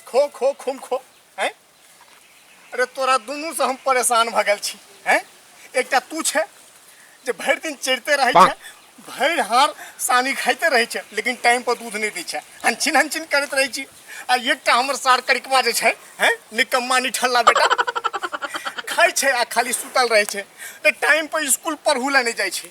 खो खो खुम खो हैं अरे तोरा दुनू से हम परेशान भ गेल छी हैं एकटा तू छे जे भरि दिन चढ़ते रहे छे भरि हार सानी खाइते रहे छे लेकिन टाइम पर दूध नहीं दै छे हंचिन हंचिन करत रहे छी आ एकटा हमर सार करिकवा जे छे हैं निकम्मा निठल्ला बेटा खाइ छे आ खाली सुतल रहे छे ते टाइम पर स्कूल पढ़ू ला नहीं जाय छे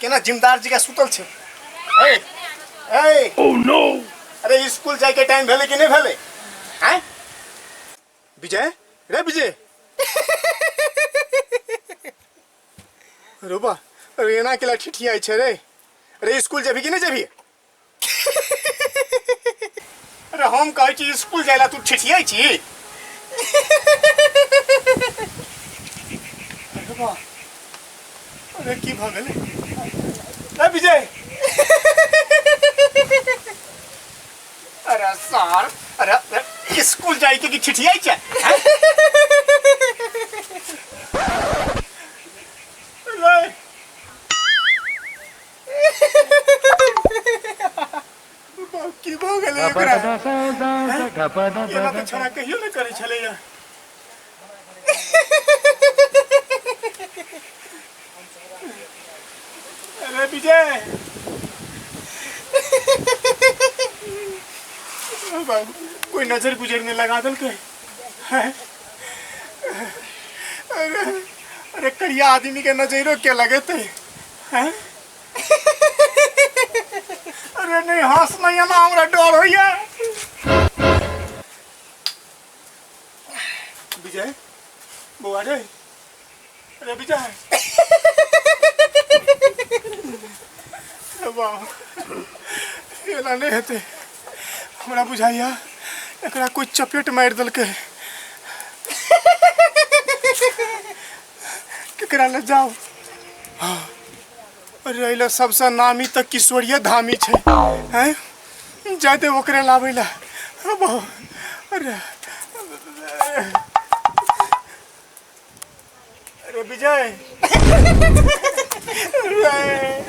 केना जिमदार जी का सुतल छै ए ए ओ नो अरे स्कूल जाय के टाइम भेले कि नहीं भेले हैं विजय रे विजय रुबा अरे एना केला ठिठियाई छै रे अरे स्कूल जेबी कि नहीं जेबी अरे हम कहै छी स्कूल जाय ला तू ठिठियै छी अरे बा अरे की भऽ गेलै ए विजय अरे सर अरे अरे, स्कूल जाय के कि ठिठियै छै हैं? की भऽ गेलै ओकरा एना तऽ छोड़ा कहियो नहि करै छलैया अरे विजय कोई नजर गुजर नहीं लगा दल के अरे अरे करिया आदमी के नजरों के लगे थे अरे नहीं हंस नहीं है ना हमरा डर होइए विजय बौआ रे अरे विजय वाह एना नहीं हेतै हमरा बुझाइए एकरा कोई चपेट मारि देलकै केकरा ले जाओ हाँ, अरे अइला सबसे नामी तो किशोरिया धामी छे हैं जाते ओकरे लावे ला अब अरे अरे विजय अरे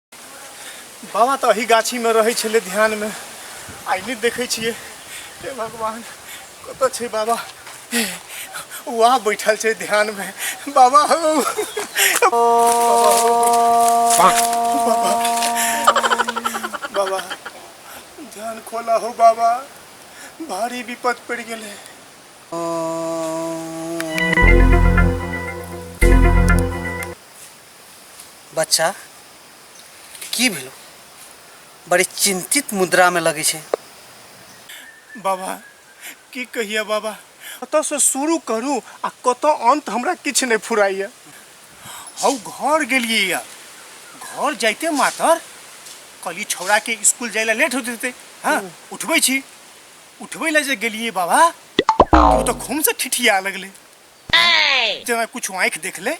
बाबा तऽ अही गाछीमे रहै छलै ध्यानमे आइ नहि देखै छियै हे भगवान कतऽ छै बाबा वहाँ बैठल छै ध्यानमे बाबा हौ बाबा ध्यान खोला हो बाबा भारी विपद पड़ि गेलै बच्चा की भेलो बड़ी चिंतित मुद्रा में लगे छे बाबा की कहिए बाबा कत से शुरू करू आ कत अंत हमरा किछ नहीं फुराइए हौ घर गेलिए या घर जाते मातर कली छौड़ा के स्कूल जाए ला लेट हो जते हाँ उठबे छी उठबे ला जे गेलिए बाबा तो तो खून से ठिठिया लगले जना कुछ आँख देख ले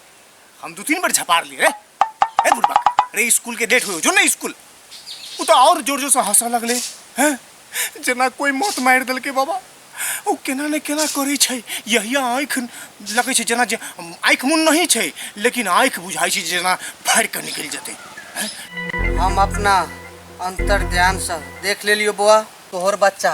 हम दो तीन बार झपार लिए रे ए बुढ़बा रे स्कूल के डेट हुए जो ना स्कूल वो तो और जोर जोर से हंसा लगले हैं जना कोई मौत मार दल के बाबा ओ केना ने केना करै छै यहिया आँखि लगै छै जेना जे आँखि मुन नहीं छै लेकिन आँखि बुझाइ छै जेना फाड़ि कऽ निकलि जेतै हम अपना अंतर ध्यान से देख ले लियो बौआ तोहर बच्चा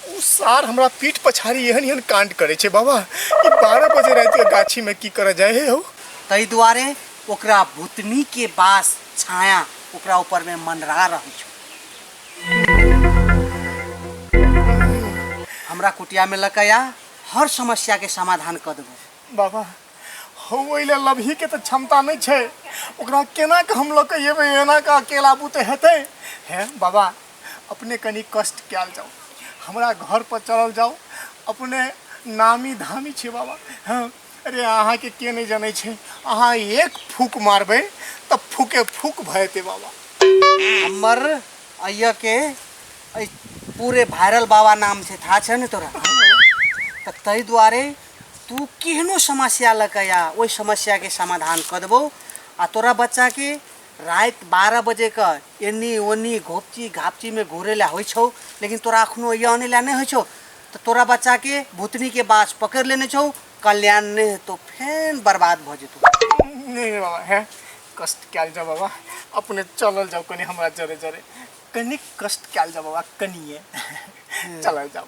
उ सार हमरा पीठ पछाड़ी एहन एहन कांड करे छे बाबा ई बारह बजे रात के गाछी में की करे जाए हे हो ताहि दुआरे ओकरा भूतनी के बास छाया ओकरा ऊपर में मनरा रहै छौ हमरा कुटिया में लकया हर समस्या के समाधान कर देबो बाबा हो ओइले लबही के तो क्षमता नहीं छे ओकरा केना के हम लोग के एबे एना का अकेला बुते हेते हैं बाबा अपने कनी कष्ट कयल जाओ हमरा घर पर चलल जाओ अपने नामी धामी छे बाबा हाँ अरे अहा के के नहीं जाने छे अहा एक फूक मारबे तब फूके फूक भयते बाबा हमर अय्या के अइ पूरे भाइरल बाबा नाम से था छे ने तोरा त तै द्वारे तू केहनो समस्या लऽ कऽ आ ओहि समस्या के समाधान कऽ देबौ आ तोरा बच्चा के रात बारह बजे के एनी ओनी घोपची घापची में घोरे ला होइ छौ लेकिन तोरा अखनो या आने ला नहीं होइ छौ तो तोरा बच्चा के भूतनी के बास पकड़ लेने छौ कल्याण नहीं हेतौ फेन बर्बाद भ जेतौ नहीं बाबा है कष्ट कैल जाओ बाबा अपने चलल जाओ कनी हमरा जरे जरे कनी कष्ट कैल जाओ बाबा कनिए चलल जाओ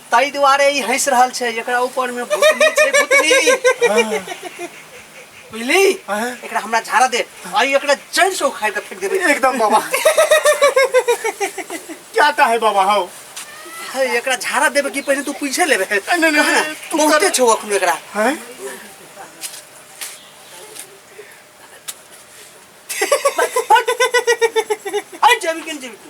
ताहि दुआरे ई हँसि रहल छै एकरा ऊपर में भूतनी छै भूतनी बुझली एकरा हमरा झाड़ा दे आ ई एकरा जड़ से उखाड़ के फेंक देबे एकदम बाबा क्या कहे बाबा हो हे, एकरा झाड़ा देबे कि पहले तू पीछे लेबे नहीं, नहीं, कहाँ ना? तू बहुते कर- छौ अखन एकरा हैं हट जेबी के जेबी तू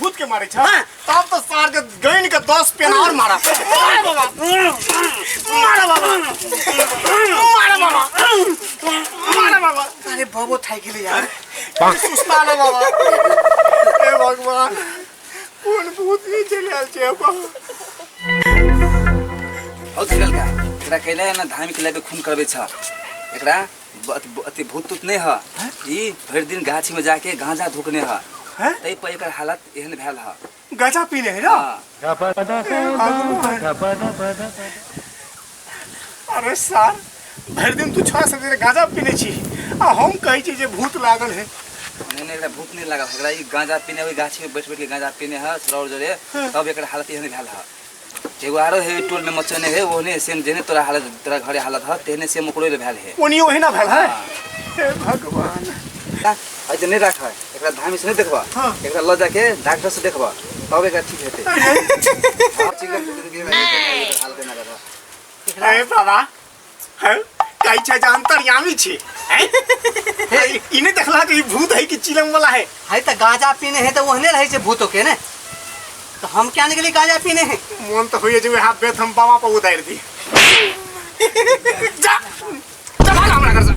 भूत के मारे छा तब तो सार के गैन के 10 पेन और मारा मारा बाबा मारा बाबा मारा बाबा मारा बाबा अरे बाबू थाई के लिए यार सुस्ता ना बाबा ए भगवान कौन भूत ये चले आल छे बाबा और निकल गया एकरा कैले ना धामी के लेबे खून करबे छ एकरा बत- ब- अथी भूत तूत नहीं है हैं? ई भरि दिन गाछी में जाके गांजा धुकने है हैं? तै पर एकर हालत एहन भेल है गाजा पी रहे ना हाँ, अरे सार भरि दिन तू छा सके गाजा पीने छी आ हम कहै छी जे भूत लागल है नहीं नहीं एकरा भूत नहीं लगा एकरा ई गांजा पीने ओहि गाछी में बैठ बैठ के गांजा पीने है सौर जरे तब एकर हालत एहन भेल है एगो आरो हे टोल में मचने हे ओने सेम जेने तोरा हालत तोरा घरे हालत ह तेने सेम ओकरो ले भेल हे ओनी ओही ना भेल है हे भगवान अइ जे नहीं राख है एकरा धामी से नहीं देखबा हाँ। एकरा ल जाके डॉक्टर से देखबा तब एकरा ठीक हेते हां ठीक है हाल के ना करबा हे बाबा हैं? कहै छै जे अंतर्यामी छै हैं? ई- ई नहि देखला जे ई भूत है कि चिलम वाला है है तो गांजा पीने है तो ओहने रहे से भूतों के ने तो हम क्या निकली गांजा पीने है मोन तऽ होइए जे वएह बेत हम बाबा पर उतारि दी जा जा भाग हमरा घरसँ